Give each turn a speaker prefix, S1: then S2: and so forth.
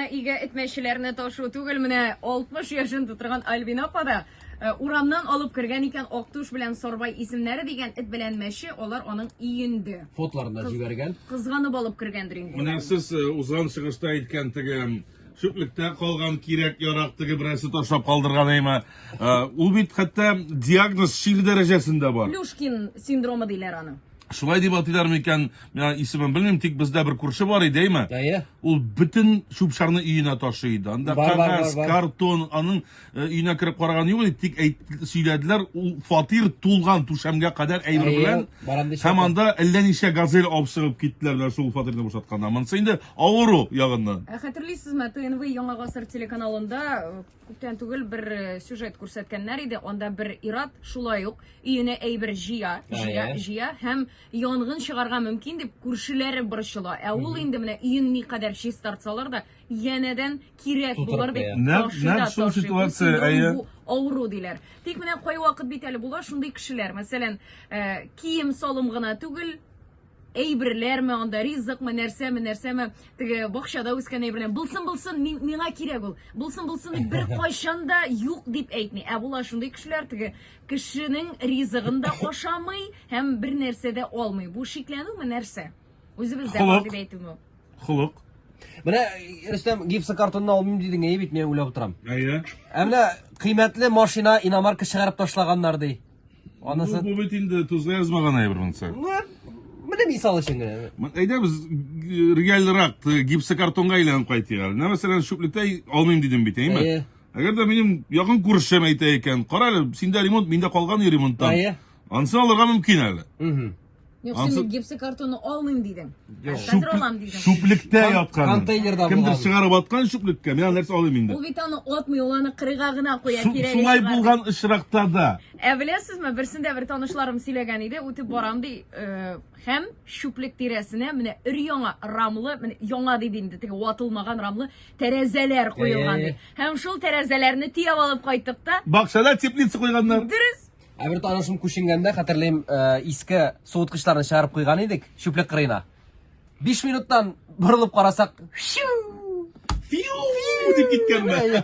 S1: Өйгә этмәчеләрне ташу түгел, менә 60 яшен тутырган Альбина апа да э, урамнан алып кергән икән Актуш белән Сарбай исемнәре дигән эт белән мәче, алар аның иенде. Фотларын да җибәргән.
S2: Кызганып алып кергәндер
S1: инде. Менә сез э, узган
S3: чыгышта әйткән теге чүплектә калган кирәк ярак теге берәрсе ташлап калдырган әйме. Ул бит хәтта диагноз шик дәрәҗәсендә бар. Плюшкин синдромы
S1: диләр аны. Шулай дип атыйлар
S3: микән? Миңа исемен белмим, тик бездә бер күрше бар иде, әйме? Әйе. Ул бөтен чүп-чарны өенә ташый иде. Анда бар, кагаз, бар, бар. картон, аның э, өенә кереп караган юк иде, тик әйт, сөйләделәр, ул фатир тулган түшәмгә кадәр әйбер белән. Һәм анда әллә ничә газель алып чыгып киттеләр менә шул фатирны бушатканда. Монысы инде авыру ягыннан. Ә хәтерлисезме, ТНВ
S1: Яңа гасыр телеканалында э, Күптән түгел бер э, сюжет күрсәткәннәр иде. Анда бер ират шулай ук өенә әйбер җыя, җыя, җыя һәм янгын чыгарга мөмкин дип күршеләре борчыла. Ә ул инде менә өен никадәр чистартсалар да, янәдән кирәк булыр дип Нәкъ- ташый да нәкъ шул ташый.
S3: Бу ситуация, синдром, әйе. бу авыру диләр.
S1: Тик менә кайвакыт бит әле була шундый кешеләр, мәсәлән, э, кием салым гына түгел, Әйберләрме анда, ризыкмы, нәрсәме, нәрсәме, теге бакчада үскән әйберләр. Булсын, булсын, мин, миңа кирәк ул. Булсын, булсын дип бер кайчан да юк дип әйтми. Ә була шундый кешеләр теге кешенең ризыгын да ашамый һәм бер нәрсә дә алмый. Бу шикләнүме нәрсә? Үзебездә бар дип әйтүме? Холык.
S3: Менә
S2: Рөстәм гипсы картонны алмыйм дидең, әйе бит, мин уйлап утырам. Әйе. Ә менә кыйммәтле машина иномарка чыгарып ташлаганнар ди. Анысы... Бу, бу бит инде тузга
S3: язмаган әйбер монысы. Менә
S2: мисал өчен генә. Әйдә без
S3: э, реальрак гипсокартонга әйләнеп кайтыйк әле. Менә мәсәлән, шүплектә алмыйм дидем бит, әйме? Әйе. Әгәр дә минем якын күршем әйтә икән, кара әле, синдә ремонт, миндә калган ремонттан. Әйе. Ансын алырга мөмкин әле. Угу. Юк, Ансы- син
S1: гипсы картонны алмыйм дидең. Ә Юк. хәзер алам дидең.
S3: Шүплектә
S1: Кон- яткан.
S3: контейнерда Кемдер булган. чыгарып
S2: аткан
S3: шүплеккә. Мин аны нәрсә алыйм инде. Ул бит аны атмый, ул
S1: аны кырыйга гына куя. Су- кирәге Сулай чыгар. булган очракта
S3: да. Ә беләсезме, берсендә
S1: бер танышларым сөйләгән иде, үтеп барам ди, э, һәм шүплек тирәсенә менә өр-яңа рамлы, менә яңа диде инде, теге ватылмаган рамлы тәрәзәләр куелган ди. Һәм шул тәрәзәләрне төяп алып кайттык та, Бакчада теплица
S3: куйганнар. дөрес, Ә бер
S1: танышым
S2: күченгәндә, хәтерлим, э, иске суыткычларны чыгарып куйган идек, чүплек кырыена. 5 минуттан борылып карасак, фиу!
S3: Фиу!
S2: дип киткәнме?